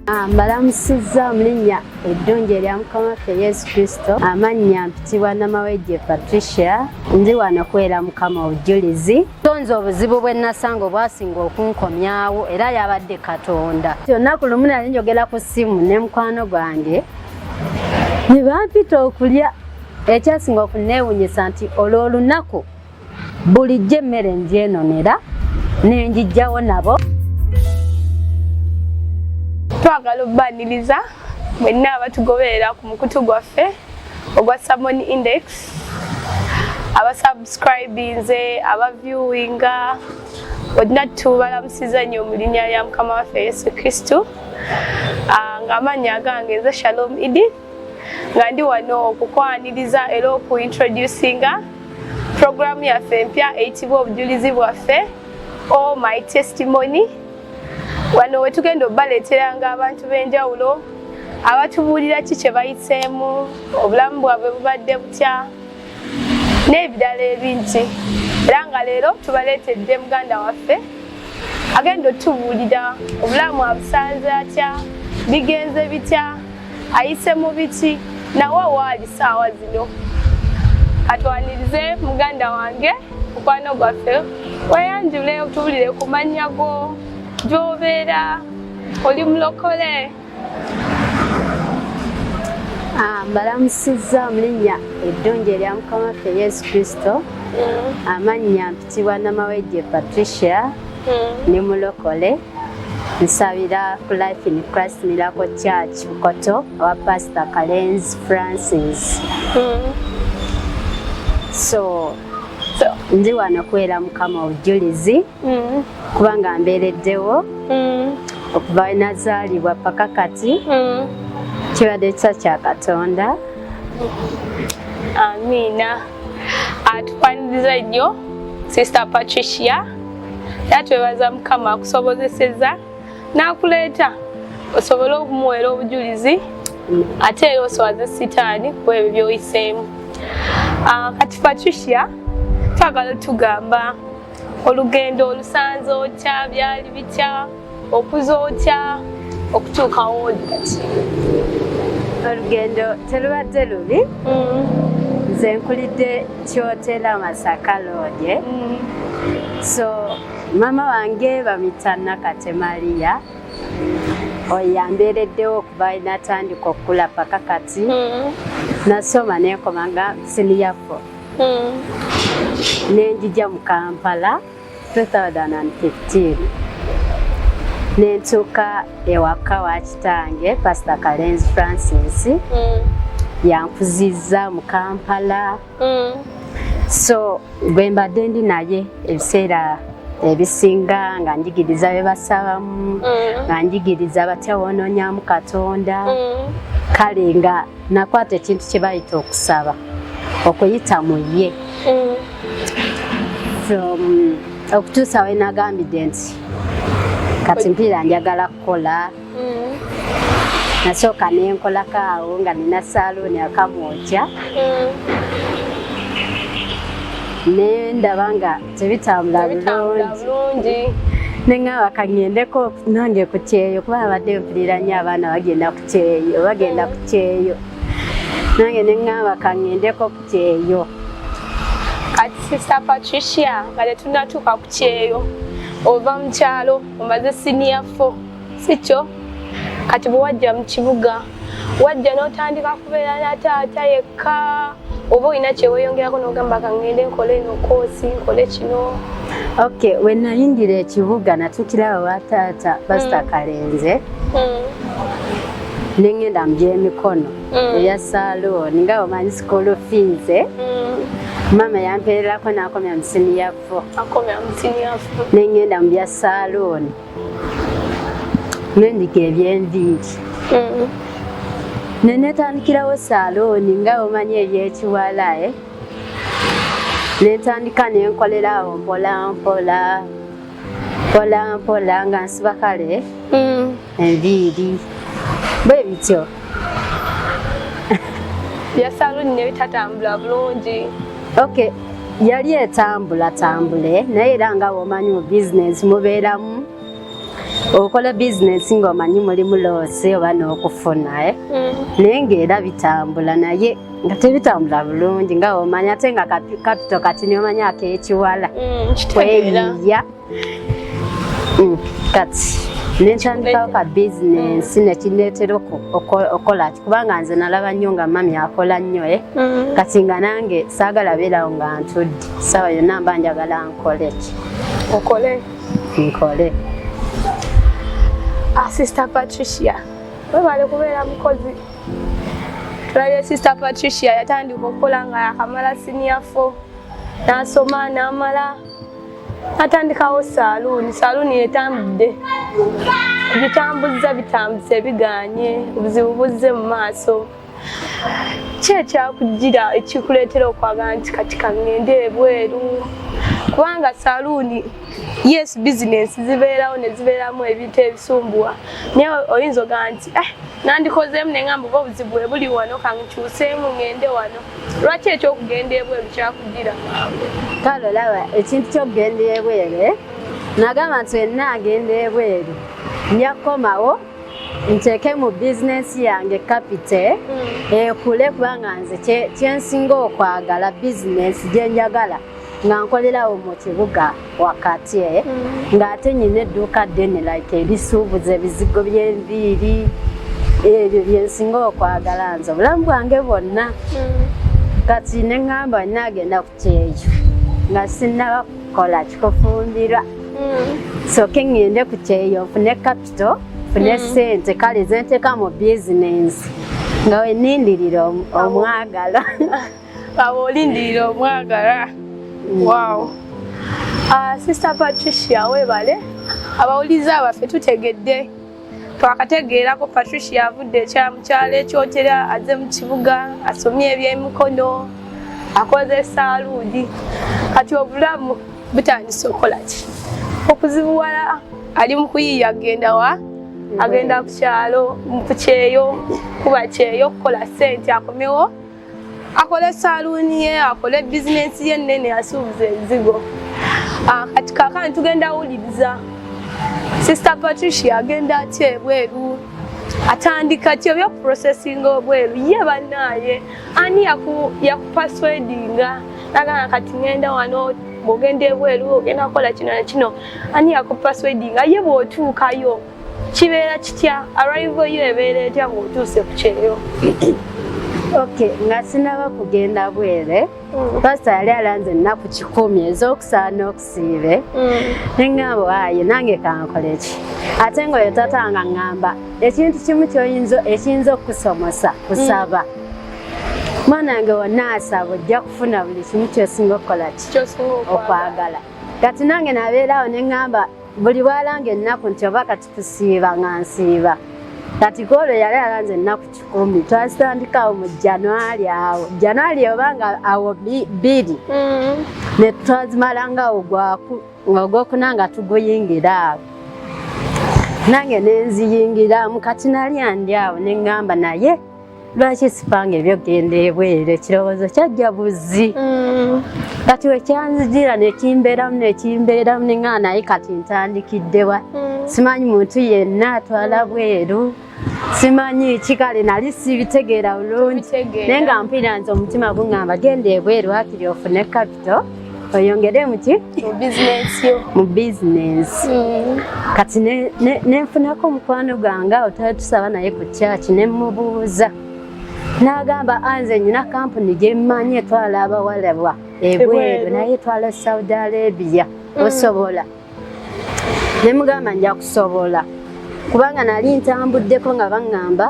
Ah, mbalamusizza mu linnya eddungi erya mukama waffe yesu kristo amannya mpitibwa namawejje patricia ndi wano kubeera mukama obujulizi tonze obuzibu bwe nasanga obwasinga okunkomyawo era yabadde katonda olunaku lumu nali njogera ku ssimu ne mukwano gwange ne bampita okulya Ekyasinga okunneewunyisa nti olw'olunaku bulijjo emmere ngyenoonera nenjijjawo nabo. Twagala obbaniriza mwenna abatugoberera ku mukutu gwaffe ogwa Salmon Index abasubscribinze abaviewinga olina tubalamusiza nnyo mu linnya lya mukama waffe yesu kristu ah, ng'amannya agange nze shalom idi nga ndi wano okukwaniriza era okuintroducinga puroguramu yaffe empya eyitibwa obujulizi bwaffe o oh my testimony wano wetugenda obubaleeteranga abantu b'enjawulo abatubuulira ki kye bayiseemu obulamu bwabwe bubadde butya n'ebirala ebingi era nga leero tubaleetedde muganda waffe agenda otubuulira obulamu abusanze atya bigenze bitya ayise mu biki nawe waali saawa zino katwanirize muganda wange mukwano gwaffe weyanjule otubulire ku mannya go gyobeera oli mulokole ah, mbalamusizza mu linnya eddungi erya mukama waffe yesu kristo mm. amannya mpitibwa namawejje patricia mm. ne mulokole nsabira ku life in christ miracle church bukoto owa pastor kalenzi francis mm. so ndi wano kuwera mukama obujulizi mm. kubanga mbeereddewo mm. okuva we nazaalibwa paka kati mm. kibadde kisa kya katonda amiina atufaniriza nnyo sister patricia era twebaza mukama akusobozeseza n'akuleeta osobole okumuweera obujulizi ate era oswaze sitaani ku ebyo byoyiseemu ah, kati patricia twagala otugamba olugendo olusanze otya byali bitya okuza otya okutuukawo kati olugendo terubadde lubi mm. nze nkulidde kyotera masaka lodye mm. so mama wange bamita nakate maria oyambeereddewo okuva natandika okukula paka kati mm. nasoma nenkomanga siniyafour nenjija mu kampala 2015 nentuuka ewaka wa kitange pasita kalenzi francis mm. yankuzizza mu kampala mm. so gwe mbadde ndi naye ebiseera ebisinga nga njigiriza bye basabamu mm. nga njigiriza batya woononyamu katonda mm. kale nga nakwata ekintu kye bayita okusaba okuyita mu ye mm. from okutuusa we nagambidde nti kati mpiira njagala kukola mm. nasooka nenkolako awo nga nina saluuni akamwokya mm. nendaba nga tebitambula bulungi nengaba kagendeko nange ku kyeyo kuba abadde mpulira nnyo abaana bagenda ku kyeyo bagenda ku kyeyo nange nengaba kagendeko ku kyeyo kati sista patricia nga tetunatuuka ku kyeyo ova mu kyalo omaze siniya fo si kyo kati bwewajja mu kibuga wajja n'otandika kubeera na taata yekka oba olina kyeweeyongerako n'ogamba kangende nkole eno koosi nkole kino ok we nayingira ekibuga natukira awa taata pasita hmm. kalenze hmm. nengenda mu byemikono hmm. eya salooni nga omanyi sikulu fiize maama yampeererako n'akomya mu siniya fo nengenda mu bya salooni nendika ebyenviiri mm. nenetandikirawo salooni nga omanyi ebyekiwalae eh? nentandika nenkolerawo mpolampola mpolampola nga nsiba kale mm. enviiri bwe bityo bya salooni nebitatambula bulungi okay yali etambula tambule naye era nga womanyi mu bizinesi mubeeramu okola bizinesi ngaomanyi mulimu loosi oba n'okufuna eh? mm. naye ngaera bitambula naye nga tebitambula bulungi nga womanyi ate nga kapito kati nomanya akekiwala mm, kweyiya mm, kati nekyandikawo ka bizinensi mm. nekineetera okukola ki kubanga nze nalaba nnyo nga mami akola nnyo e mm. kati nga nange saagala beerawo nga ntudde saawa yonna mba njagala nkole ki okole nkole ah, sister patricia webale kubeera mukozi tulabye sister patricia yatandika okukola nga yakamala siniafo nasoma namala atandikawo saaluuni saaluuni yetambudde bitambuzza bitambuse biganye obuzibu buzze mu maaso ki ekyakugira ekikuleetera okwagala nti kati kangende ebweru kubanga saluuni yes bizinensi zibeerawo ne zibeeramu ebintu ebisumbuwa naye oyinza ogaa nti eh, nandikozeemu ne ngamba oba obuzibu bwe buli wano kankyuseemu ngende wano lwaki ekyokugenda ebweru kyakugira kale olaba ekintu kyokugenda ebweru eh? nagamba nti wenna agenda ebweru nja kukomawo nteeke mu bizinensi yange kapite hmm. ekule kubanga nze kyensinga okwagala bizinensi gyenjagala nga nkolerawo mu kibuga wakati eh? mm. ng'ate nyina edduuka ddene like ebisuubuza ebizigo by'enviiri ebyo byensinga okwagala nze obulamu bwange bwonna mm. kati ne ŋŋamba naagenda ku kyeyo nga sinnaba kukola kikufumbirwa mm. soke ŋŋende ku kyeyo nfune kapito nfune ssente kale zenteeka mu bizinensi nga wenindirira omwagala abo olindirira omwagala wow uh, sister patricia webale abawuliza abaffe tutegedde twakategeerako patricia avudde ekyamukyalo ekyotera aze mu kibuga asomye ebyemikono akoze saaluudi kati obulamu butandise okukola ki okuzibuwala ali mu kuyiiya agenda wa agenda ku kyalo ku kyeyo kuba kyeyo okukola sente akomewo akole saluuni ye akole bizinensi ye ennene asuubuza enzigo ah, kati kakani tugenda wuliriza sister patricia agenda atya ebweru atandika ki obyo processing obweru ye banaaye ani yakupaswedinga nagana kati ngenda wano bwogenda ebweru ogenda kukola kino na kino ani yakupaswedinga ye bw'otuukayo kibeera kitya arrival yo ebeera etya ng'otuuse ku kyeyo ok nga sinaba kugenda bwere mm. pasita yali alanze ennaku kikumi ez'okusaana okusiibe mm. neŋŋamba waaye nange kankole ki ate ngaoyo tata nga ŋŋamba ekintu kimu kyoyinza ekiyinza okukusomosa kusaba mm. mwana wange wonna asaba ojja kufuna buli kimu kyosinga okukola ki okwagala kati nange nabeeraawo neŋŋamba buli bwalanga ennaku nti oba kati tusiiba nga nsiiba kati koolo yali alanze ennaku kikumi twazitandikawo mu januari awo januari oba nga awo bbiri mm. ne twazimalangawo ogwokuna nga tuguyingira awo nange nenziyingiramu kati nali andi awo neŋŋamba naye lwaki sipanga ebyogenda ebweru ekirowoozo kyajja buzzi mm. kati wekyanzijira nekimbeeramu nekimbeeramu ninga naye kati ntandikiddewa mm. simanyi muntu yenna atwala bweru simanyi kikale nali sibitegeera bulungi naye nga mpira nze omutima guŋamba genda ebweru akiri ofune kapito oyongere muki mu bizinesi mm. kati nenfunako omukwano gwange awo twali tusaba naye ku kyaki nemubuuza n'agamba anze ah, nyina kampuni gyemmanyi etwala abawalabwa ebweru naye etwala saudi arabia mm. osobola mm. ne mugamba nja kusobola kubanga nali ntambuddeko nga baŋŋamba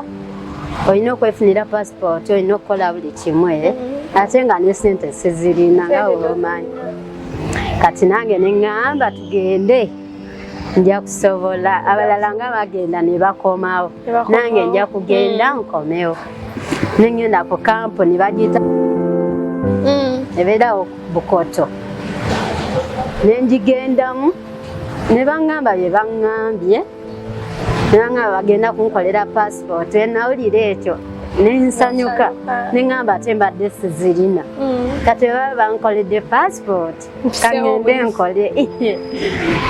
olina okwefunira pasipooti olina okukola buli kimu e ate nga ne sente sizirina nga weomanyi kati nange ne ŋŋamba tugende nja kusobola abalala nga bagenda ne bakomawo nange nja kugenda mm. nkomewo nengenda ku kampuni bagiyita mm. ebeerawo bukoto ne ngigendamu ne baŋŋamba bye baŋŋambye ne baŋŋamba bagenda kunkolera paasipooti enawulira ekyo ne nsanyuka ne ŋŋamba ate mbadde sizirina mm. kati baba bankoledde paasipooti kangende nkole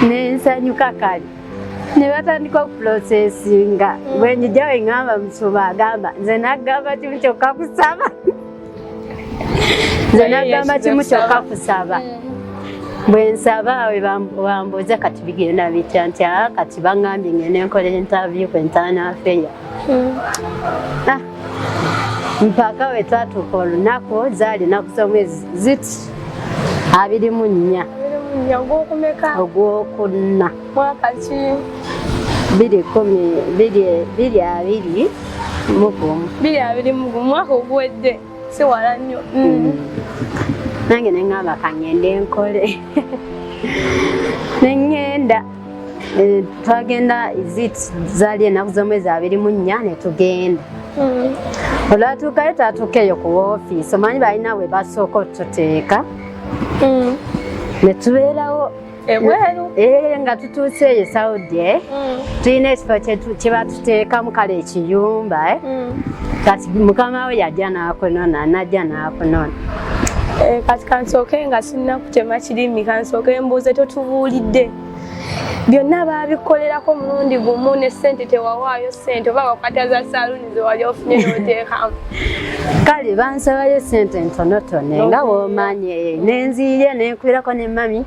ne nsanyuka kale ne batandika okupulosesinga mm. bwe njijawe ŋŋamba musuma agamba nze naggamba kimu kyokka kusaba nze nagamba kimu kyokka kusaba bwe nsaba we bambuuza kati bigenda bitya nti a ah, kati bangambye ngende nkola entavyu ku entaana afeya hmm. ah, mpaka we twatuuka olunaku zaali naku z'omwezi ziti abiri mu nnya ogwokuna mwaka ki biri kumi biri abiri mugumu biri abiri mugumu mwaka oguwedde si wala nnyo mm. mm. nange neŋamba kangende nkole neŋenda eh, twagenda izit zali enaku zomwezi abiri mu nnya netugenda mm. olwatuukayo twatuukeeyo ku wofiisi omanyi balina we basooka otuteeka netubeerawo ebweru eh, nga tutuuse eyo saudi eh? mm. tulina ekifo kyebatuteekamu kale ekiyumba eh? mm. kati mukama we yajja nakunona najja nakunona Eh, kati kansooke nga sinna kutema kirimi kansooke mbuuze totubuulidde byonna baabikolerako mulundi gumu ne ssente tewawaayo ssente oba wakata za saaluuni kale bansabayo sente ntonotono nga bwomanyi eh, nenziiryo nenkwirako ne mami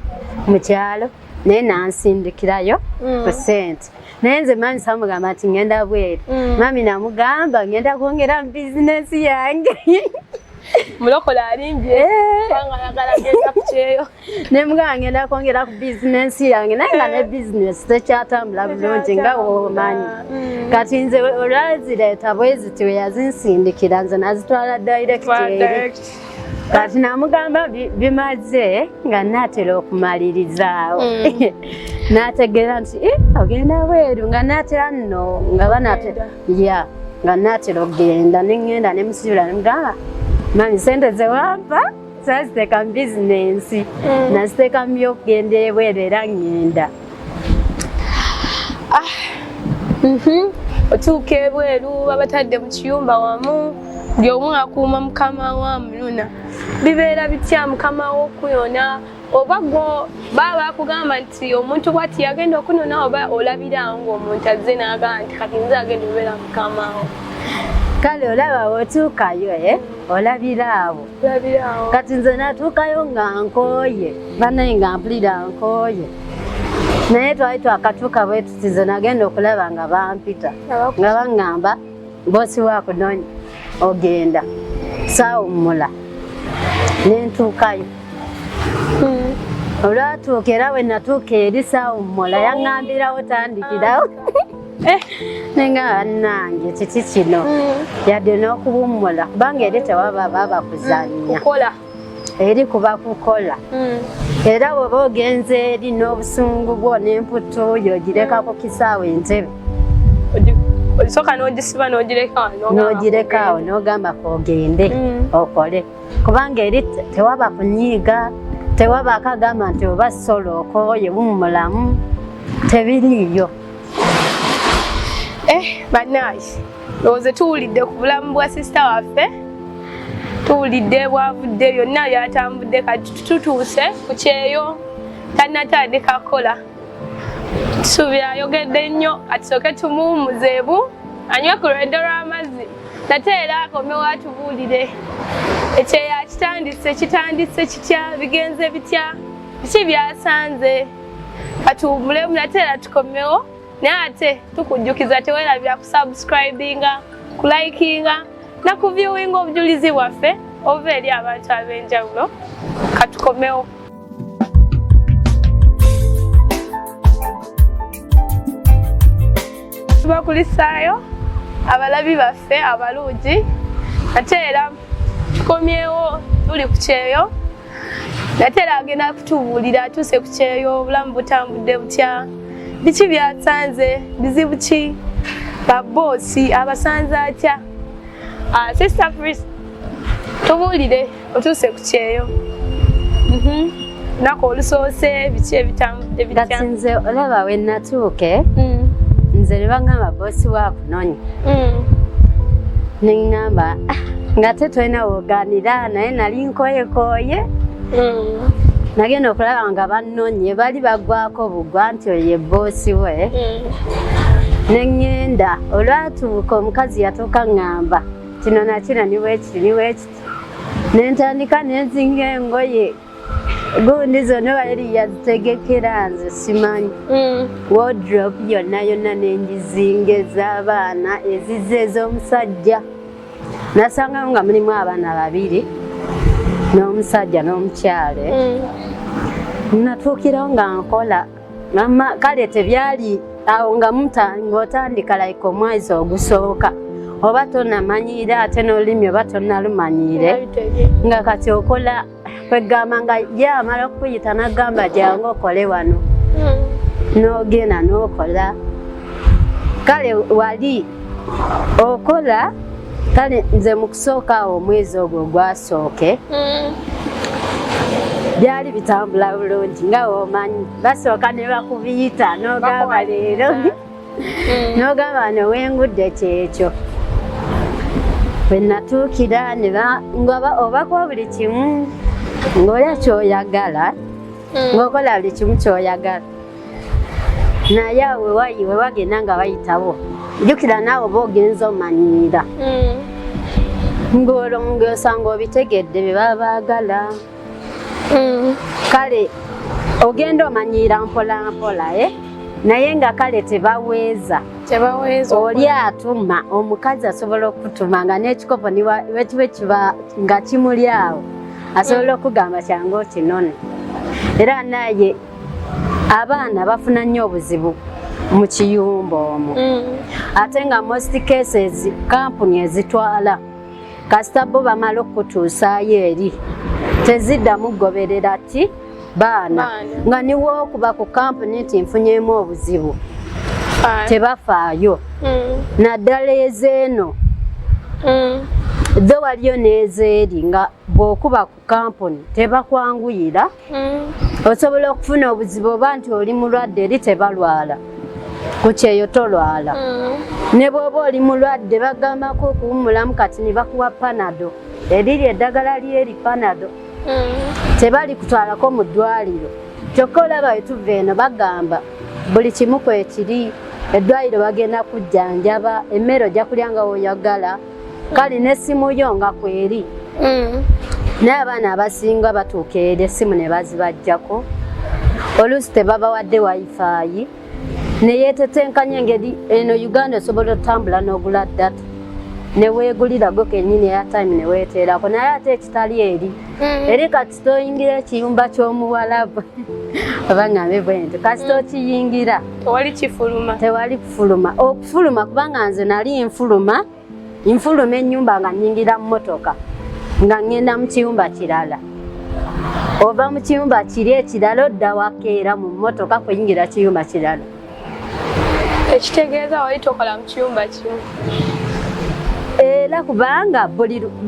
mukyalo naye nansindikirayo mm. ku sente naye nze mami samugamba nti ngenda bweru mm. mami namugamba ngenda kwongera mu bizinesi yange mulokole alimbye eh. kubanga ayagala genda ku kyeyo ne mugamba ngenda kwongera ku bizinensi yange naye nga ne bizinesi tekyatambula bulungi nga womanyi mm. kati nze olwazireeta bweziti weyazinsindikira nze nazitwala directeri kati namugamba bimaze nga natera okumalirizawo mm. nategeera nti eh, ogenda bweru nga natera nno nga banatera ya nga natera okugenda nengenda nemusibira nemugamba mani sente zewampa saziteeka mu bizinensi mm. naziteeka mu byokugenda ebweru era ngenda ah, mhm. otuuka ebweru babatadde mu kiyumba wamu buli omu akuuma mukama wa muluna bibeera bitya mukama wokuyona oba gwo baba bakugamba nti omuntu bwati yagenda okunona oba olabirawo ngaomuntu azze nagamba nti kati nze agenda obeera mukamawo kale olaba wotuukayo e eh? olabira awo kati nze natuukayo nga nkooye banaye nga mpulira nkooye naye twali twakatuuka bwetuti nze nagenda okulaba nga bampita nga baŋŋamba bosi wako nonya ogenda saawummula ne ntuukayo hmm. olwatuuka era we natuuka eri saawummula yaŋŋambirawo tandikirawo eh. nenga bannange kiki kino hmm. yadde n'okuwummula kubanga eri tewaba baba kuzannya eri kuba kukola hmm. era woba ogenze eri n'obusungu bwo n'emputtu yogireka ku kisaawe entebe osooka n'ogisiba n'ogirekaawo n'ogamba kogende hmm. okole kubanga eri tewaba kunyiiga tewaba akagamba nti oba solo okoye bumulamu tebiriiyo eh, banaye ndowooze tuwulidde ku bulamu bwa sisita waffe tuwulidde bwavudde byonna byatambudde kati tutuuse ku kyeyo tanatandika kukola tusuubira ayogedde nnyo atusooke tumuwumuzeebu anywe ku lweddo lw'amazzi nate era akomewo atubuulire ekyeyo akitandise kitandise kitya bigenze bitya biki byasanze katuwumulemu nate era tukomewo naye ate tukujjukiza tewerabira kusubscribinga kulikinga na kuviewinga obujulizi bwaffe obuva eri abantu ab'enjawulo katukomewo tubakulisaayo abalabi baffe abalungi ate era tukomyewo tuli ku kyeyo natera agenda kutubuulira atuuse ku kyeyo obulamu butambudde butya biki byasanze bizibu ki baboosi abasanze atya ah, sister pris tubuulire otuuse ku kyeyo mhm. nako olusoose biki ebitambudde bitya nze olaba wenatuuke mm. nze nebangamba boosi waku nonyi mm. nengamba ah, nga te tolina woganira naye nali nkoyekoye mm. nagenda okulaba nga bannonye bali bagwako bugwa nti oyo ye boosi we mm. nengenda olwatuuka omukazi yatuuka ngamba kino nakina niwekiti niwekiti nentandika nenzinga engoye gundi zonna baleli yazitegekera nze simanyi mm. wodrop yonna yonna nengizinga ez'abaana ezize ez'omusajja nasangawo nga mulimu abaana babiri n'omusajja n'omukyale mm. natuukirawo nga nkola mama kale tebyali awo nga ng'otandika like omwezi ogusooka oba tonamanyiire ate n'olulimi oba tonalumanyiire nga kati okola kwegamba nga ye amala okukuyita nagamba jangu okole wano hmm. nogenda nokola kale wali okola kale nze mukusooka awo omwezi ogwo gwasooke hmm. byali bitambula bulungi nga womanyi basooka nebakubiyita nogamba leero n'ogamba wano wengudde kyekyo bwe natuukira ngaba obakuwa buli kimu ng'olya kyoyagala hmm. ng'okola buli kimu kyoyagala naye awe wayi we wagenda nga bayitawo jjukira naawe oba ogenza omanyiira hmm. ng'olwo ng'osanga obitegedde bye baba baagala mm. kale ogenda omanyiira mpolampola e eh? naye nga kale tebaweeza oli atuma omukazi asobola okutuma nga n'ekikopo wekiba ekiba nga kimuli awo asobola okugamba kyangu okinone era naye abaana bafuna nnyo obuzibu mu kiyumba omwo mm. ate nga most cases kampuni ezitwala kasita bo bamala okukutuusaayo eri teziddamu kugoberera ti baana nga niwo okuba ku kampuni nti nfunyemu obuzibu tebafaayo mm. naddala ezeeno mm. dho waliyo n'ezeeri nga bw'okuba ku kampuni tebakwanguyira hmm. osobola okufuna obuzibu oba nti oli mulwadde eri tebalwala ku kyeyo tolwala hmm. ne bwoba oli mulwadde bagambako okuwumulamu kati ne bakuwa panado eriri eddagala lyeri panado hmm. tebali kutwalako mu ddwaliro kyokka olaba wetuva eno bagamba buli kimu kwekiri eddwaliro bagenda kujjanjaba emmere ojja kulya nga woyagala kale nesimu yo nga kweri mm. naye abaana abasinga batuuka eri esimu ne bazibajjako oluusi tebabawadde wifaayi neyetetenkanya engeri eno uganda osobola otambula n'ogula data neweegulira gwe kenyini eyatime neweeteerako naye ate ekitali eri mm. eri kati kasita oyingira ekiyumba ky'omuwalabu oba ngambe bwenti kasita mm. okiyingira tewali kifuluma tewali kufuluma okufuluma kubanga nze nali nfuluma nfuluma ennyumba nga nyingira mu motoka nga ŋŋenda mu kiyumba kirala ova mu kiyumba kiri ekirala odda wakeera mu motoka kuyingira kiyumba kirala ekitegeeza wali tokola mu kiyumba kimu era kubanga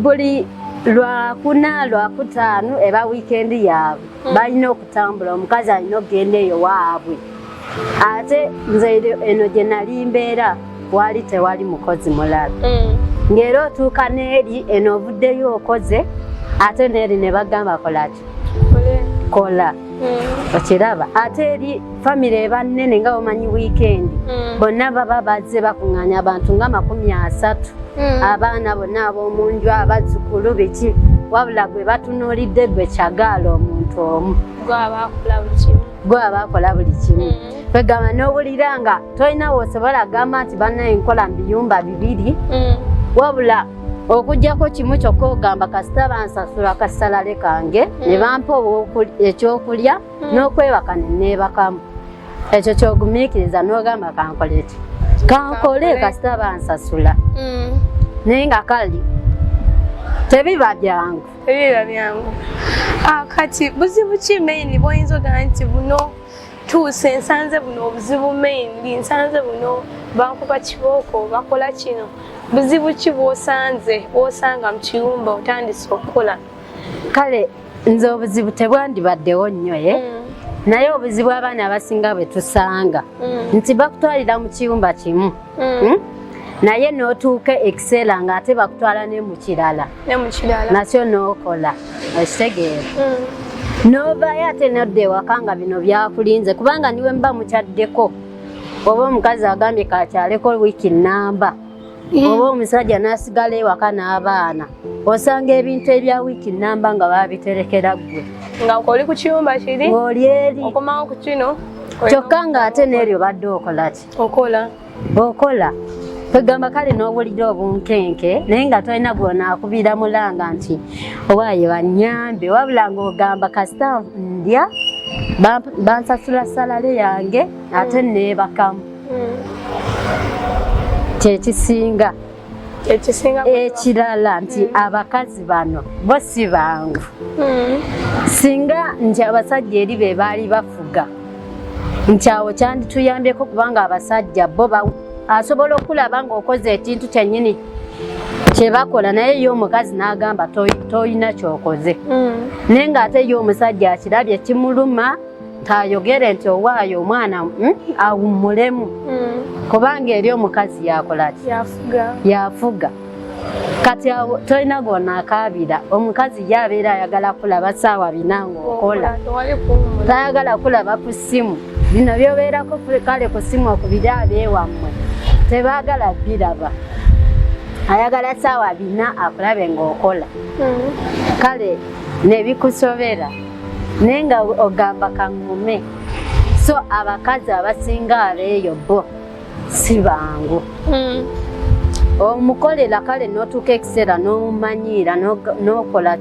buli lwakuna lwakutaano eba wiikendi yaabwe hmm. balina okutambula omukazi alina okugenda eyo waabwe ate nze eno gye nali mbeera wali tewali mukozi mulala hmm. ng'era otuuka n'eri eno ovuddeyo okoze ate n'eri ne bagamba kolaki kola mm. okiraba ate eri famire eba nnene nga bamanyi wiikendi mm. bonna baba bazze bakuŋŋaanya abantu nga makumi asatu mm. abaana bonna ab'omu nju abazzukulu biki wabula gwe batunuulidde gwe kyagaala omuntu omu gwaba akola buli kimu kwegamba n'owulira nga tolina wosobola gamba nti banna enkola mu biyumba bibiri wabula okujjako kimu kyokka ogamba kasita bansasula akasalale kange ne mm. bampa ekyokulya mm. n'okwebaka ne neebakamu ekyo kyogumiikiriza n'ogamba kankole ki kankole kasita bansasula mm. naye nga kali tebiba byangu tebiba byangu ah, kati buzibu ki maini bwoyinza ogamba nti buno tuuse nsanze buno obuzibu mainly nsanze buno bankuba kibooko bakola kino buzibu ki bwosanze bwosanga mu kiyumba otandise okukola kale nze obuzibu tebwandibaddewo nnyo ye mm. naye obuzibu abaana abasinga bwe tusanga mm. nti bakutwalira mu kiyumba kimu mm. hmm? naye notuuka ekiseera nga ate bakutwala ne mukirala nakyo nokola okitegeera mm. novayo ate nodda ewaka nga bino byakulinze kubanga niwe muba mukyaddeko oba omukazi agambye kakyaleko wiiki namba mm. oba omusajja nasigala ewaka n'abaana osanga ebintu ebya wiiki namba nga babiterekera ggwe nga oli ku kiyumba kiri oli eri okomawo ku kino kyokka ng'ate n'eryo badde okola ki okola okola kwegamba kale n'obulira obunkenke naye nga tolina gwona akubiira mulanga nti owaaye banyambe wabula ngaogamba kasita ndya bansasula salale yange ate mm. neebakamu mm. kyekisinga ekirala nti mm. abakazi bano bo si bangu mm. singa nti abasajja eri be baali bafuga nti awo kyandituyambyeko kubanga abasajja bo asobola okulaba ngaokoze ekintu kyenyini kyebakola naye ye omukazi n'agamba tolina kyokoze mm. naye ng'ate ye omusajja akirabye kimuluma tayogere nti owaayo omwana hmm, awummulemu hmm. kubanga eri omukazi yakola ki yafuga kati awo tolina gona akaabira omukazi ye abeera ayagala kulaba saawa bina ngaokola tayagala kulaba ku ssimu bino byobeerako kale ku ssimu okubiri abeewammwe tebaagala biraba ayagala saawa bina akulabe ngaokola hmm. kale nebikusobera naye nga ogamba kaŋŋume so abakazi abasinga abeeyo bo si bangu hmm. omukolera kale n'otuuka ekiseera n'omumanyiira n'okola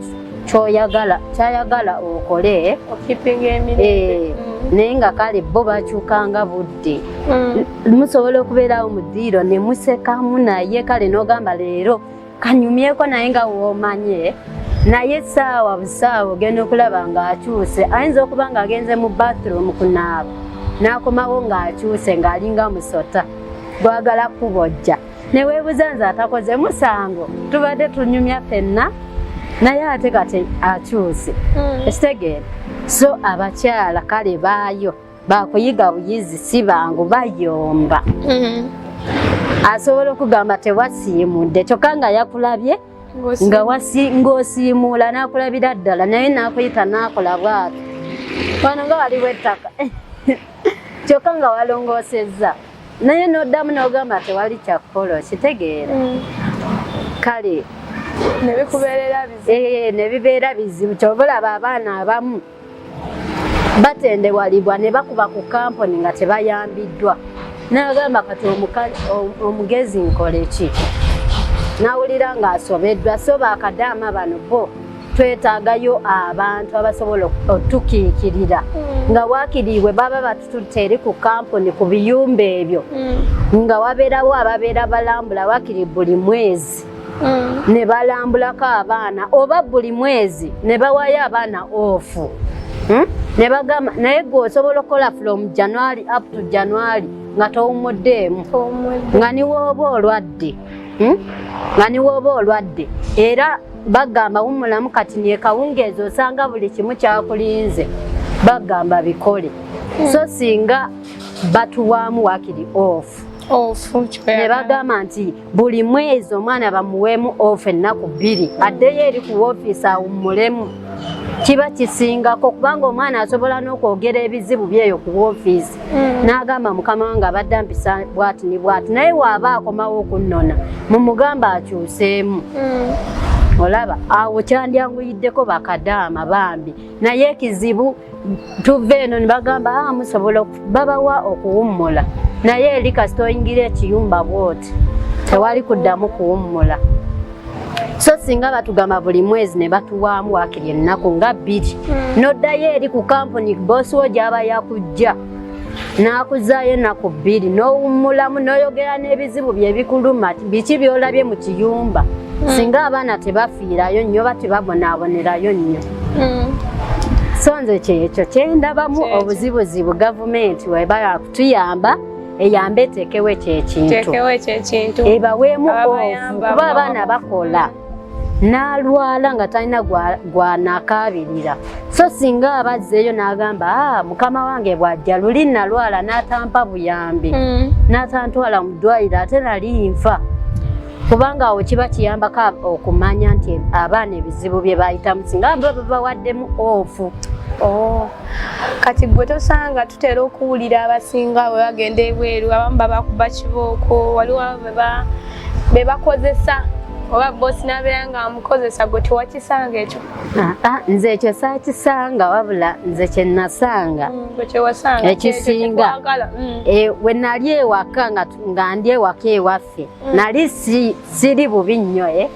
kyoyagala kyayagala okole eh, hmm. naye nga kale bo bakyukanga budde hmm. musobola okubeerawo mu ddiiro ne musekamu naye kale n'ogamba leero kanyumyeko naye nga womanye naye saawa busaawa ogenda okulaba ng'akyuse ayinza okuba ng'agenze mu bathroom kunaaba n'akomawo ng'akyuse ng'alinga musota gwagala kubojja neweebuza nze atakoze musango tubadde tunyumya fenna naye ate kati akyuse hmm. ekitegeera so abakyala kale baayo bakuyiga buyizi si bangu bayomba mm-hmm. asobola okugamba tewasiimudde kyokka nga yakulabye ng'osiimuula n'akulabira ddala naye n'akuyita n'akola bwati wano nga waliwo ettaka kyokka nga walongoosezza naye n'oddamu n'ogamba tewali kyakukola okitegeera mm. kale nebikubeerera bizibu eh, nebibeera bizibu kyoba olaba abaana abamu batendewalibwa ne bakuba ku kampuni nga tebayambiddwa n'agamba kati omugezi nkole ki nawulira ng'asobeddwa so bakadaama bano bo twetaagayo abantu abasobola otukiikirira hmm. nga wakiriibwe baba batututte eri ku kampuni ku biyumba ebyo hmm. nga wabeerawo ababeera balambula wakiri buli mwezi mm. ne balambulako abaana oba buli mwezi ne bawayo abaana ofu hmm? ne bagamba naye gwe osobola okukola from january up to january nga towumuddeemu nga niwooba olwadde hmm? nga niwooba olwadde era bagamba wumulamu kati nekawungeezi osanga buli kimu kyakulinze bagamba bikole so singa batuwaamu wakiri off ne bagamba nti buli mwezi omwana bamuweemu ofu ennaku bbiri addeyo eri ku woofiisi awummulemu kiba kisingako kubanga omwana asobola n'okwogera ebizibu byeyo ku woofiisi mm. n'agamba mukama wange abadde ampisa bwati ni bwati naye waaba akomawo okunnona mumugamba akyuseemu mm. olaba awo kyandyanguyiddeko bakadaama bambi naye ekizibu tuva eno nibagamba a ah, musobola babawa okuwummula naye eri kasita oyingira ekiyumba bwoti tewali kuddamu kuwummula so singa batugamba buli mwezi ne batuwaamu wakiri ennaku nga bbiri hmm. noddayo eri ku kampuni boosi wo gyaba yakujja n'akuzaayo ennaku bbiri n'owummulamu n'oyogera n'ebizibu bye bikuluma biki by'olabye mu kiyumba hmm. singa abaana tebafiirayo nnyo oba tebabonaabonerayo nnyo hmm. so nze kyekyo kyendabamu obuzibuzibu gavumenti weba yakutuyamba eyambe eteekewo ekyekintu ebaweemu ofu kuba abaana bakola n'alwala nga talina gwanakaabirira so singa aba azzeeyo n'agamba ah, mukama wange bw'ajja luli nalwala n'atampa buyambi hmm. n'atantwala mu ddwaliro ate nali nfa kubanga awo kiba kiyambako okumanya nti abaana ebizibu bye bayitamu singa ba babawaddemu ofu oh. kati gwe tosanga tutera okuwulira abasinga bwe bagenda ebweru abamu babakuba kibooko waliwo bweba be bakozesa oba bosi nabeera nga amukozesa gwe tewakisanga ekyo ah, ah, nze ekyo sakisanga wabula nze kyenasanga mm, ekisinga mm. eh, we nali ewaka nga ndi ewaka ewaffe mm. nali siri bubi nnyo e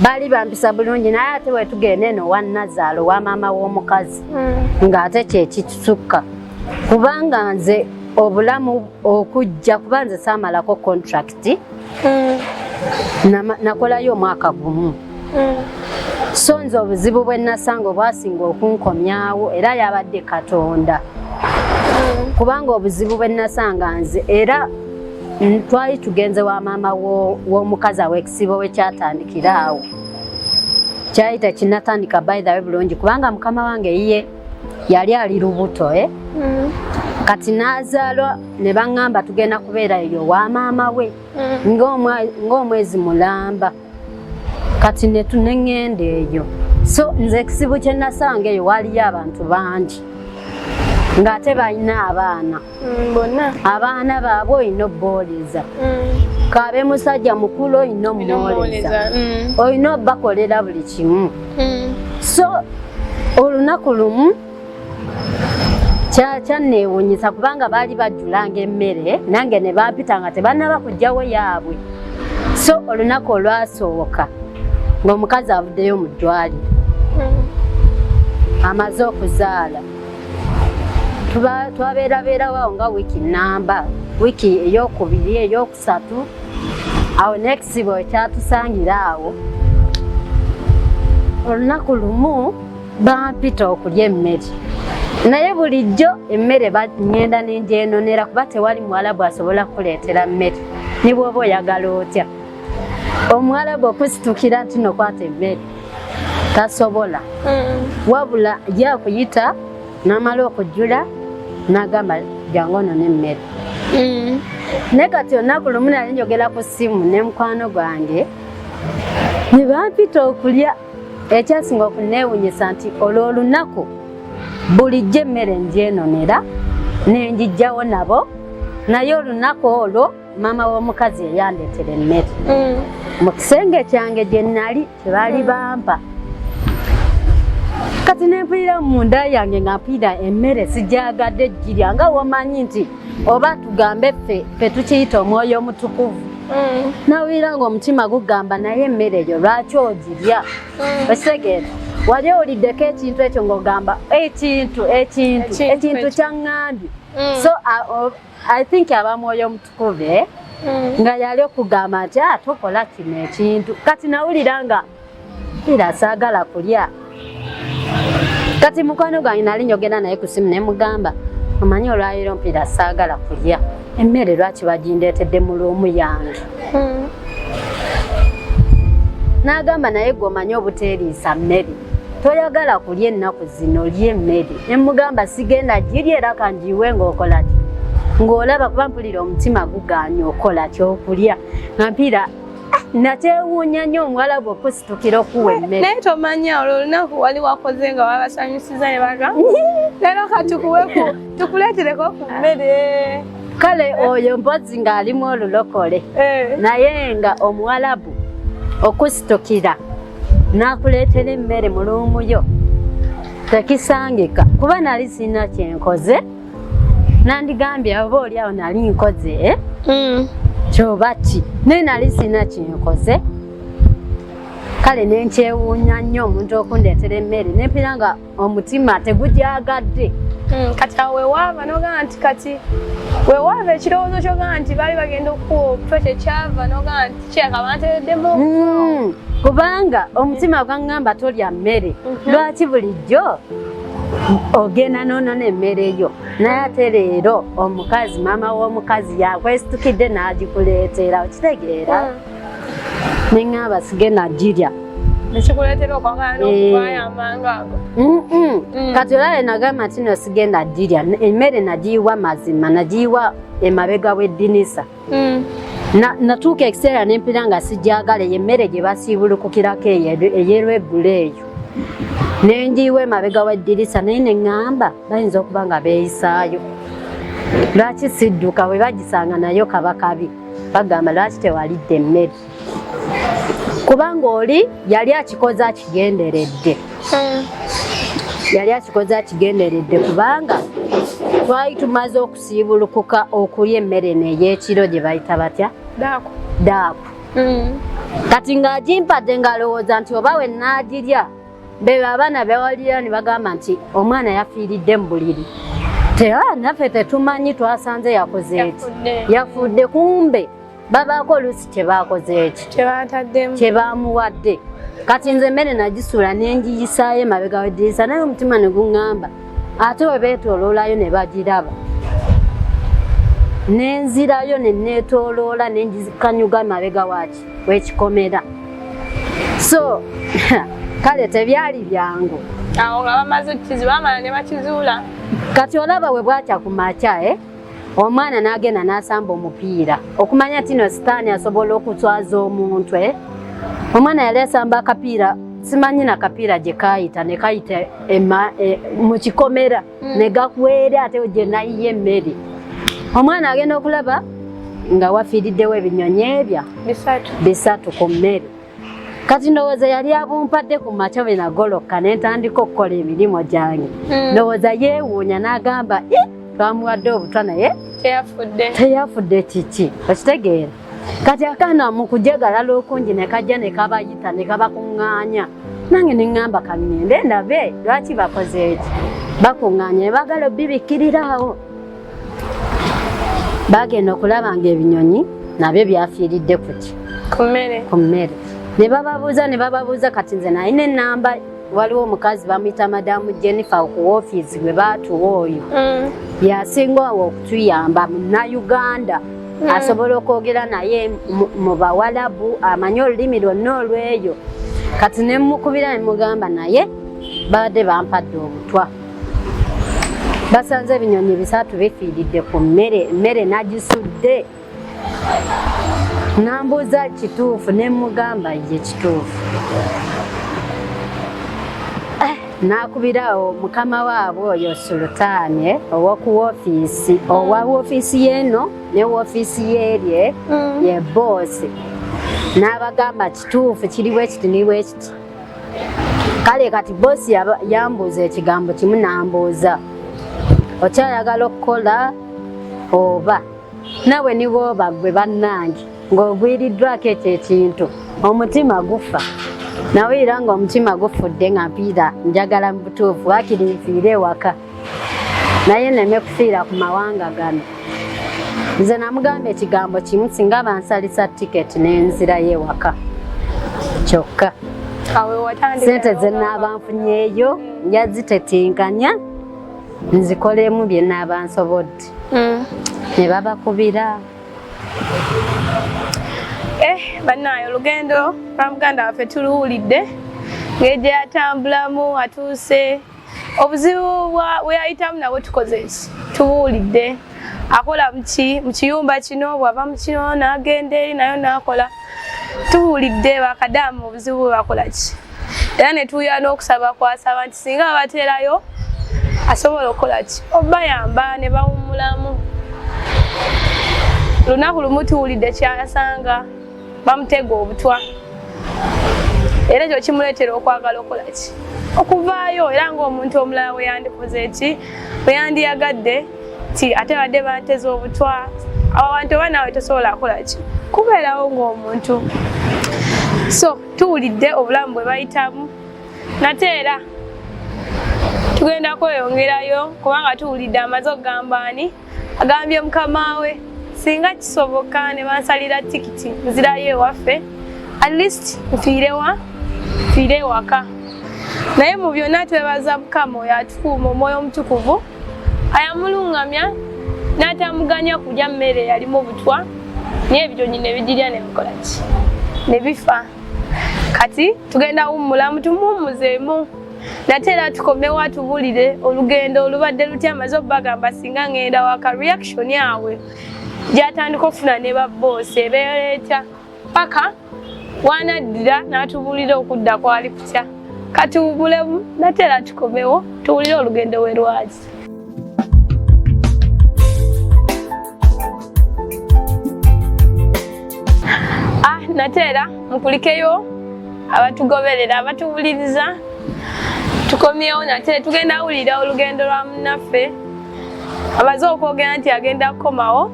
baali bampisa bulungi naye ate wetugenda eno wanazaala owa maama w'omukazi ng'ate kyekitusukka kubanga nze obulamu okujja kuba nze saamalako contract mm. nakolayo omwaka gumu mm. so nze obuzibu bwe nasanga obwasinga okunkomyawo era yabadde katonda mm. kubanga obuzibu bwe nasanga nze era twali tugenze wa maama w'omukazi awekisibo wekyatandikira awo kyali tekinatandika by the way bulungi kubanga mukama wange yiye yali ali lubuto eh? mm. kati nazaalwa ne baŋŋamba tugenda kubeera eyo wa maama we mm. ng'omwezi mulamba kati netuneŋŋenda eyo so nze ekizibu kye nasanga eyo waaliyo abantu bangi ng'ate balina abaana mm, bonna abaana baabwe olina obbooleza mm. kaabe musajja mukulu olina omuwooleza mm. olina obakolera buli kimu so olunaku lumu kyanneewunyisa kubanga baali bajjulanga emmere nange ne bampita nga tebanaba kujjawo yaabwe so olunaku olwasooka ng'omukazi avuddeyo mu ddwaliro amaze okuzaala twabeerabeerawo awo nga wiiki namba wiiki eyokubiri eyokusatu awo nekizibu ekyatusangira awo olunaku lumu bampita okulya emmere naye bulijjo emmere ngenda nenjenonera kuba tewali muwalabu asobola kukuleetera mmere nibwoba oyagala otya omuwalabu okusitukira nti nokwata emmere tasobola mm. wabula yakuyita namala okujula nagamba jangu ono nemmere mm. naye kati olunaku lumu nali njogera ku simu ne mukwano gwange nebampita okulya ekyasinga okunewunyisa nti olwo olunaku bulijjo emmere njenonera nenjijjawo nabo naye olunaku olwo maama w'omukazi eyandetera emmere mm. mu kisenge kyange gye nali kyebaali mm. bampa kati nempulira munda yange nga mpulira emmere sijagadde ejjirya nga womanyi nti oba tugambe ffe fe tukiyita omwoyo omutukuvu mm. nawulira nga omutima gugamba naye emmere eyo lwaki ogirya esegeera wali owuliddeko ekintu ekyo ng'ogamba ekintu ekintu ekintu kyaŋŋambye Mm. so uh, uh, I think aba mwoyo omutukuvu eh? mm. nga yali okugamba nti ah, tokola kino ekintu kati nawulira nga era saagala kulya kati mukwano gwange nali njogera naye ku simu ne mugamba omanyi olwaleero mpiira saagala kulya emmere lwaki bagindeetedde mu luumu yange hmm. n'agamba naye gwe omanyi obuteeriisa mmere toyagala kulya ennaku zino lya emmere ne mugamba sigenda girya era kangiiwe ng'okola ki ng'olaba kuba mpulira omutima gugaanya okola kyokulya nga mpiira nakyewuunya nnyo omuwala gwe okusitukira okuwa emmere naye tomanya olwo olunaku wali wakoze nga wabasanyusiza ne baga leero katukuweku tukuleetereko ku mmere kale oyo mpozi ng'alimu olulokole eh. naye nga omuwalabu okusitukira n'akuleetera emmere mu luumu yo tekisangika kuba nali sirina kyenkoze nandigambye oba oli awo nali nkoze eh? mm. kyoba ki naye nali sirina kyenkoze kale nenkyewuunya nnyo omuntu okundeetera emmere nempira nga omutima tegugyagadde hmm, kati awo wewaava nogaa nti kati wewaava ekirowoozo kyogaa nti baali bagenda okukuwa obutwa kyekyava nogaa nti kyeka bantereddemu hmm, kubanga omutima gwaŋŋamba tolya mmere mhm. lwaki bulijjo ogenda nonona emmere yo naye ate leero omukazi maama w'omukazi yakwesitukidde n'agikuleetera okitegeera hmm. ne ŋŋamba sigenda girya nekikuleetera okwagala eh. n'okuvaayo amangu ago mm. kati olale nagamba nti no sigenda girya emmere nagiyiwa mazima nagiyiwa emabega w'eddinisa mm. natuuka ekiseera nempira nga sigyagala eyo emmere gye basiibulukukirako eyerweggulo eyo nenjiyiwa emabega w'eddirisa naye neŋŋamba bayinza okuba nga beeyisaayo lwaki sidduka bwe bagisanga nayo kabakabi bagamba lwaki tewalidde emmere kubanga oli yali akikoze akigenderedde hmm. yali akikoze akigenderedde kubanga twali tumaze okusiibulukuka okulya emmere neyekiro gye bayita batya daaku daaku hmm. kati ng'agimpadde ng'alowooza nti oba we naagirya bebe abaana bewalira ne bagamba nti omwana yafiiridde mu buliri tera naffe tetumanyi twasanze yakoze eki yafudde kumbe babaako oluusi kyebakoze eki kyebamuwadde kati nze emmere nagisuula nengiyisaayo emabega wedirisa naye omutima ne guŋŋamba ate we beetooloolayo ne bagiraba nenzirayo ne neetooloola nengikanyuga emabega waaki wekikomera so kale tebyali byangu awo nga bamaze kizibamala ne bakizuula kati olaba we bwakya ku makya eh? omwana n'agenda n'asamba omupiira okumanya tino sitaani asobola okuswaza omuntu eh? omwana yali asamba akapiira simanyi na kapiira gye kaayita ne kayita e, mu kikomera hmm. ne gakuweere ate gye nayiye emmere omwana agenda okulaba nga wafiiriddewo ebinyonyi ebya bisatu ku mmere kati ndowooza yali abumpadde ku makya bwe nagolokka ne ntandika okukola emirimu gyange hmm. ndowooza yeewuunya n'agamba eh, twamuwadde obutwa naye teyafudde kiki okitegeera kati akaana mu kujagalala okungi ne kajja ne kabayita ne kabakuŋŋaanya nange ne ŋŋamba kaŋŋende ndabe lwaki bakoze eki bakuŋŋaanya ne baagala obibikkirirawo baagenda okulaba ng'ebinyonyi nabyo byafiiridde kuki ku mmere ne bababuuza ne bababuuza kati nze naye n'ennamba waliwo omukazi bamuyita madamu jennifer ku ofiisi gwe baatuwa oyo mm. yasinga awo okutuyamba munauganda mm. asobola okwogera naye mu bawalabu amanye olulimi lwonna olweyo kati nemukubira nemugamba naye babadde bampadde obutwa basanze ebinyonyi bisatu bifiiridde ku mmere emmere nagisudde nambuuza kituufu ne mugamba ye kituufu eh, nakubirawo mukama waabwe oyo sulutaani eh, owoku wofiisi mm. owa wofiisi yeeno ne wofiisi yeerye mm. ye boosi n'abagamba kituufu kiri bwekiti ni bwekiti kale kati boosi yambuuza ekigambo kimu nambuuza okyayagala okukola oba nawe niwoba gwe bannange ng'ogwiriddwako ekyo ekintu omutima gufa nawulira nga omutima gufudde nga mpiira njagala mu butuufu wakiri nfiire ewaka naye neme kufiira ku mawanga gano nze namugamba ekigambo kimu singa bansalisa tiketi nenzirayo ewaka kyokka sente zenaaba nfunyeeyo njazitetinkanya nzikolemu byenaaba nsobodde mm. ne babakubira eh banaye olugendo lwa muganda waffe tuluwulidde ngeje atambulamu atuuse obuzibu weyayitamu nabwe tukoze ki tubuwulidde akola muki mukiyumba kino bwava mukino nagenda eri nayo nakola tuwulidde bakadamu obuzibu bwe bakola ki era ne tuwulira n'okusaba kwasaba nti singa babateerayo asobola okukola ki obayamba ne bawummulamu lunaku lumu tuwulidde kyasanga bamutega obutwa era ekyo kimuleetera okwagala okukola ki okuvaayo era ng'omuntu omulala weyandikoze ki weyandiyagadde ti ate badde banteza obutwa abo bantu oba naawe tosobola akola ki kubeerawo ng'omuntu so tuwulidde obulamu bwe bayitamu nate era tugenda kweyongerayo kubanga tuwulidde amaze okugamba ani agambye mukama we singa kisoboka ne bansalira tikiti nzirayo ewaffe at least nfiirewa nfiire ewaka naye mu byonna twebaza mukama oyo atukuuma omwoyo omutukuvu ayamulungamya n'atamuganya kulya mmere yalimu obutwa naye ebitonyi ne bigirya ne bikola ki ne bifa kati tugenda wummulamu tumuwummuzeemu nate era tukomewo atubulire olugendo olubadde lutya amaze obubagamba singa ngenda waka reaction awe gyatandika okufuna ne babboosi ebeera etya paka wanaddira n'atubuulira okudda kwali kutya kati bubulemu natera tukomewo tuwulire olugendo we lwaki ah, natera mukulikeyo abatugoberera abatubuliriza tukomyewo nate tugenda wulira olugendo lwa munaffe amaze okwogera nti agenda kukomawo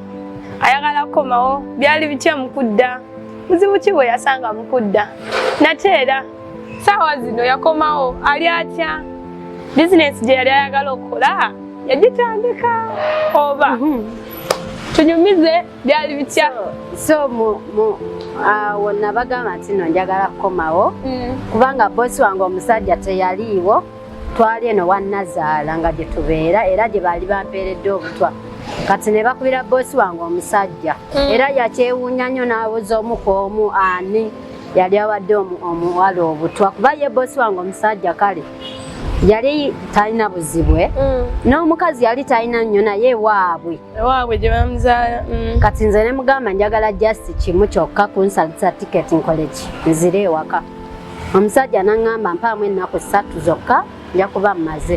ayagala kukomawo byali bitya mukudda muzibu ki bwe yasanga mukudda nate era saawa zino yakomawo ali atya bizinesi gye yali ayagala okukola yagitandika oba mhm. tunyumize byali bitya so awo nabagamba nti no njagala kukomawo mm. kubanga bosi wange omusajja teyaliiwo twali eno wannazaala nga gye tubeera era gye baali bampeeredde obutwa kati ne bakubira boosi wange omusajja hmm. era yakyewuunya nnyo n'abuuza omu ku omu ani yali awadde omuwala obutwa kuba ye boosi wange omusajja kale yali talina buzibwe hmm. n'omukazi yali talina nnyo naye waabwe waabwe gye bamuzaala hmm. kati nze ne mugamba njagala just kimu kyokka kunsalisa tiketi nkoleki nzire ewaka omusajja naŋŋamba mpaamu ennaku ssatu zokka nja kuba mmaze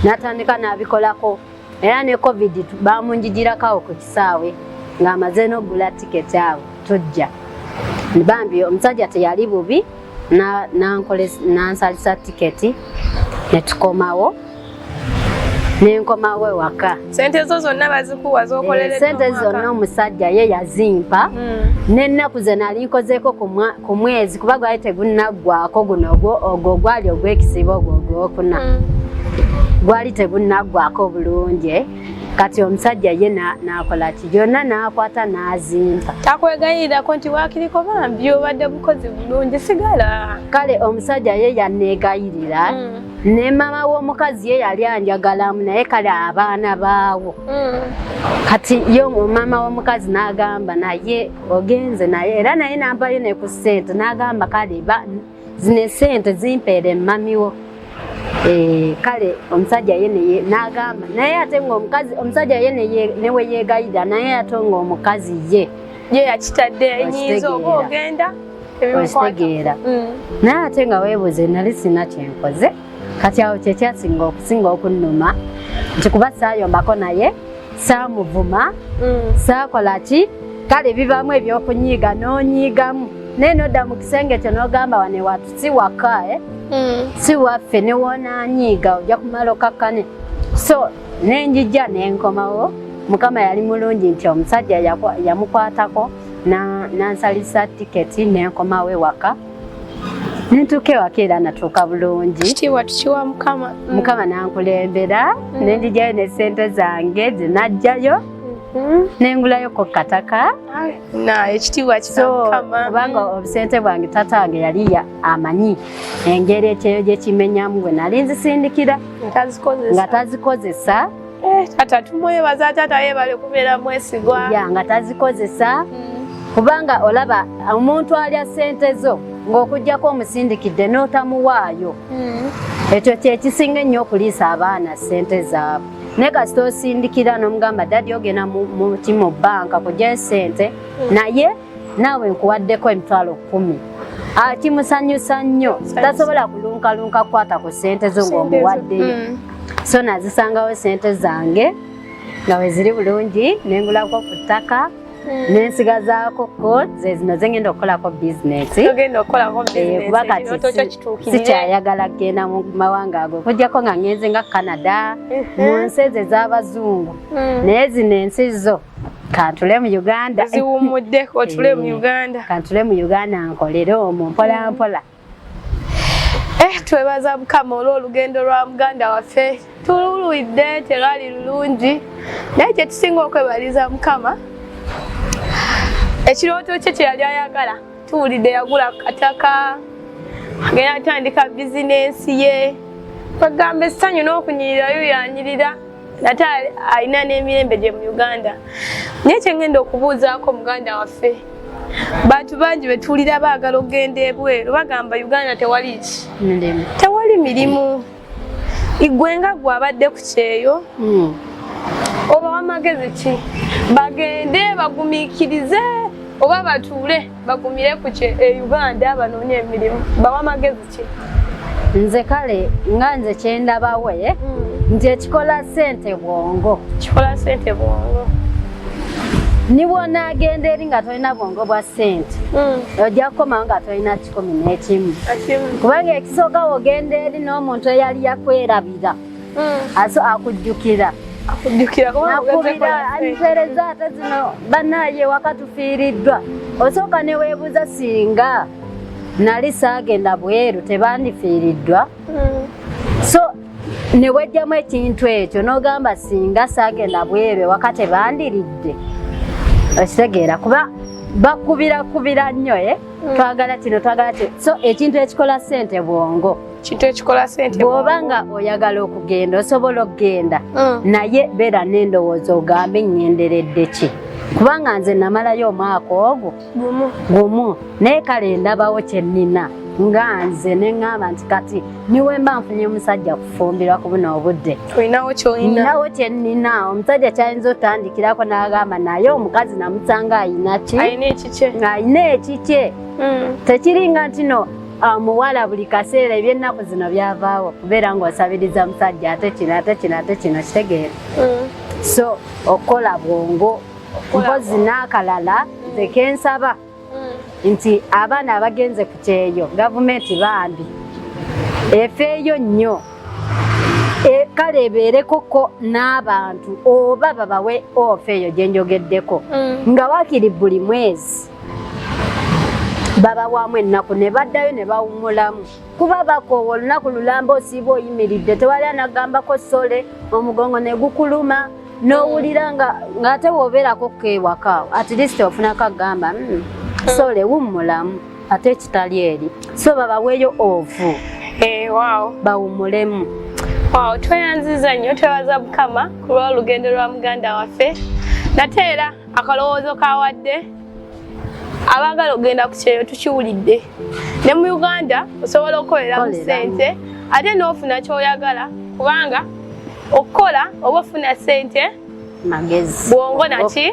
n'atandika n'abikolako era ne covid baamunjijirakawo ku kisaawe ng'amaze n'okugula tiketi awo tujja bambi omusajja teyali bubi nansalisa tiketi ne tukomawo nenkomawo ewaka sente zo zonna bazikuwa zokolere eh, sente zonna omusajja ye yazimpa hmm. nennaku ze nali nkozeeko ku mwezi kuba gwali tegunaggwako guno ogwo gwali ogwekisiba ogwo ogwokuna hmm. gwali tegunaggwako bulungi kati omusajja ye nakola ki yonna nakwata nazimpa takwegayirirako nti wakiriko bambi obadde bukozi bulungi sigala kale omusajja ye yanegayirira hmm. ne mama w'omukazi ye yali anjagalamu naye kale abaana baawo mm. kati yo mama w'omukazi n'agamba naye ogenze naye era naye nampayo ne ku ssente n'agamba kale zino esente zimpeere mmamiwo eh, kale omusajja ye neye n'agamba naye ate ngaomukazi omusajja ye newe yeegayirira naye ate ngaomukazi ye ye yakitadde enyiiza oba ogenda okitegeera mm. naye ate nga weebuze nali sina kyenkoze kati awo kyekyasinga okusinga okunnuma nti kuba saayombako naye saamuvuma mm. saakola ki kale bibaamu ebyokunyiiga n'onyiigamu naye nodda mu kisenge kyo n'ogamba wane watu si waka eh? mm. si waffe newoonanyiiga ojja kumala okakkane so nenjija nenkomawo mukama yali mulungi nti omusajja yamukwatako nansalisa tiketi nenkomawo ewaka nentuuka ewaka era natuuka bulungi kitiibwa tukiwa mukama mm. mukama nankulembera mm. nendijayo nesente zange zenajjayo mm-hmm. nengulayo ku kataka kubanga obusente bwange tata wange yali amanyi engeri ekyeyo gyekimenyamu bwe nali nzisindikira nga tazikozesa Eh, taata tumwebaza taata yebale kubeera mwesigwa ya nga tazikozesa mm. kubanga olaba omuntu alya sente zo ng'okugyako omusindikidde n'otamuwaayo mm. ekyo kyekisinga ennyo okuliisa abaana sente zaabwe naye kasita osindikira n'omugamba dadi ogenda mu kimo banka kugyayo sente mm. naye naawe nkuwaddeko emitwalo kkumi akimusanyusa nnyo tasobola kulunkalunka kukwata ku ssente zo ng'omuwaddeyo mm. so nazisangawo ssente zange nga we ziri bulungi nengulako ku ttaka mm. nensigazaako ko ze zino zengenda okukolako bizinesi eh, kuba kati sikyayagala kugenda mu mawanga ago kujjako nga ngenze nga canada mm-hmm. mu nsi ezo ez'abazungu mm. naye zino ensi zo kantule mu uganda ziwumuddeko otule mu eh, uganda kantule mu uganda nkolere omwo mpola mm. mpola eh twebaza mukama olw'olugendo lwa muganda waffe tululwidde terwali lulungi naye kyetusinga okwebaliza mukama ekirooto kye kyeyali ayagala tuwulidde yagula kataka agenda atandika bizinensi ye bagamba essanyu n'okunyirirayo yanyirira nate alina n'emirembe gye mu uganda naye kyengenda okubuuzaako muganda waffe bantu bangi betuwulira baagala okugenda ebweru bagamba uganda tewali ki tewali mirimu igwe nga gwe abadde ku kyeyo hmm. oba wamagezi ki bagende bagumikirize oba batuule bagumire ku kye e uganda banoonye emirimu bawa magezi ki nze kale nga nze kyendabawe eh? mm. nti ekikola sente bwongo kikola sente bwongo nibwonaagenda eri nga tolina bwongo bwa sente hmm. ojja kukomawo nga tolina kikumi n'ekimu kubanga ekisooka wogenda eri n'omuntu eyali yakwerabira mm. aso akujjukira mpereza ate zino banaye wakatufiiriddwa osooka neweebuuza singa nali saagenda bweru tebandifiiriddwa hmm. so newejjamu ekintu ekyo nogamba singa saagenda bweru ewaka tebandiridde okitegeera kuba bakubirakubira nnyo e twagala kino twagala kino so ekintu ekikola ssente bwongo kintu ekikola sente bwoba nga oyagala okugenda osobola okugenda mm. naye beera n'endowooza ogambe ngenderedde ki kubanga nze namalayo omwaka ogwo gumu naye kale ndabawo kyennina nga nze neŋŋamba nti kati niwemba nfunye omusajja kufumbirwa ku buno obudde ninawo kyennina omusajja kyayinza otandikirako n'agamba naye omukazi namusanga ayina ki ayina ekikye mm. tekiringa ntino omuwala buli kaseera ebyennaku zino byavaawo kubeera ng'osabiriza musajja ate kino ate kino ate kino kitegeera mm. so okukola bwongo mpozi n'akalala nze kensaba mm. nti abaana abagenze ku kyeyo gavumenti bambi efeeyo nnyo E, kale ebeerekoko n'abantu oba babawe ofa eyo gye njogeddeko mm. nga wakiri buli mwezi babawaamu ennaku ne baddayo ne bawummulamu kuba bakoowa olunaku lulamba osiiba oyimiridde tewali anagambako sole omugongo ne gukuluma n'owulira nga ng'ate woobeerako ko ewaka at least ofunako agamba hmm, sole wummulamu ate ekitali eri so babaweeyo ovu eh, bawummulemu tweyanziza nnyo twebaza mukama ku lw'olugendo lwa muganda waffe nate era akalowoozo kawadde abaagala okugenda ku kyeyo tukiwulidde ne mu uganda osobola okukolera mu ssente ate n'ofuna kyoyagala kubanga okukola oba ofuna ssente bwongo naki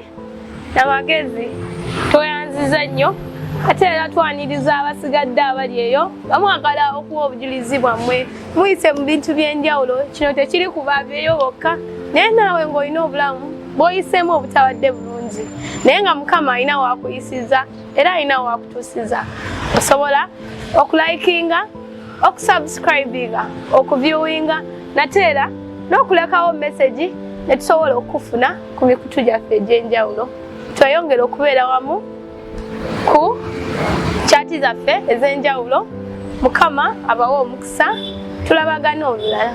namagezi tweyanziza nnyo ate era twaniriza abasigadde abali eyo bamwagala okuwa obujulizi bwammwe muyise mu bintu by'enjawulo kino tekiri ku babeeyo bokka naye naawe ng'olina obulamu bwoyiseemu obutawadde bulungi naye nga mukama alina wakuyisiza era alina wakutusiza osobola okulikinga okusubscribinga okuviewinga nate era n'okulekawo mesegi netusobola okufuna ku mikutu gyaffe egy'enjawulo tweyongere okubeera wamu ku kyati zaffe ez'enjawulo mukama abawa omukisa tulabagana olulala